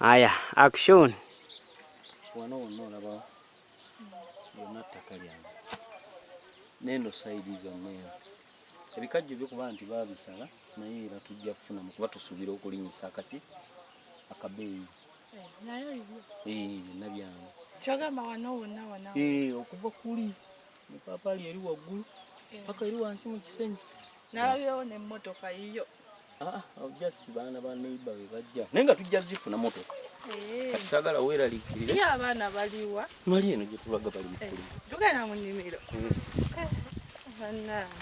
Aya, action. Wano wano olaba yonna ttaka lyange neno sayidi zonna eno ebikajjo bikuba nti babisala naye era tujja kufunamu kuba tusuubira okulinyisa akaki akabeeyi eh, eh, nabyange eh, okuva kuli Epaapaali eri waggulu paka eri wansi mu kisenyi. Nalabyewo n'emmotoka yiyo. Ah, just baana ba neighbor be bajja naye nga tujja zifuna motoka eh. kati saagala weeraliikirire ye abaana baliwa mali eno gye tulaga bali mukuli eh, tugenda mu nnimiro hmm. eh,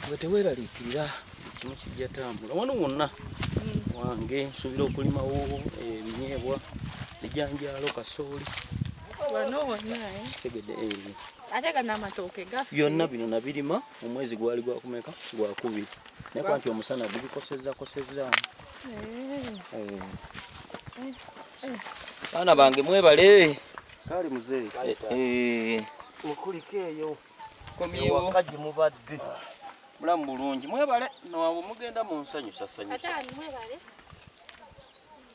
nga teweeraliikirira ekimu kijja tambula wano wonna hmm. wange nsuubira okulimawo ebinyeebwa ejanjaalo kasooli wano wonna tegede ate gana amatooke gafe byonna bino nabirima omwezi gwali gwakumeka gwakubiri naye kwanti omusana gubikosezza kosezza baana bange mwebale kale muzee eh, eh. mukulika eyo komyewaka gye mubadde mulamu bulungi mwebale nowabwe mugenda mu nsanyusasanyusa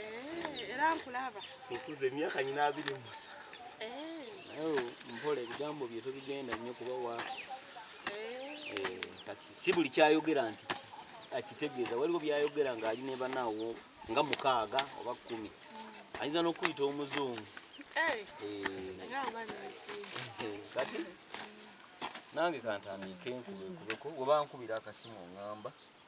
Eh, era nkulaba. Nkuze emyaka nyina abiri mu eh. oh, mpola ebigambo bye tobigenda nnyo kuba wa eh. kati si buli kyayogera nti akitegeeza waliwo byayogera ng'ali ne banaawo nga mukaaga oba kkumi mm. ayinza n'okuyita omuzungu kati nange kantandiike nkubekubeko oba nkubira akasimu ongamba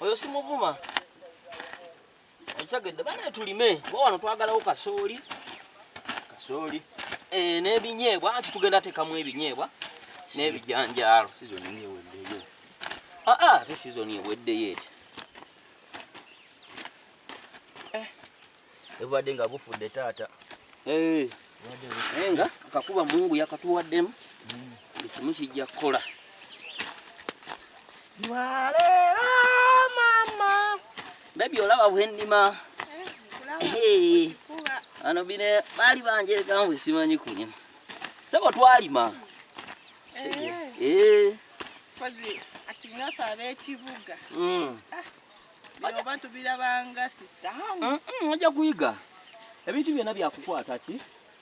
oyo simuvuma okitegedde banaye tulime kuba wano twagalawo kasooli kasooli eh, n'ebinyeebwa anti tugenda tekamu ebinyeebwa n'ebijanjaalo ate sizoni eweddeyo etya ebubadde nga bufudde taata eh. naye nga akakuba mungu yakatuwaddemu buli kimu kijja kukola lwaleero mama bebi olaba bwennima eh, ano bine baali banjerekangu esimanyi kulima sebo twalima eh. ati ngasaba ekivuga mm. ah. bino oba tubirabanga sitaani ojja kuyiga ebintu byonna byakukwata ki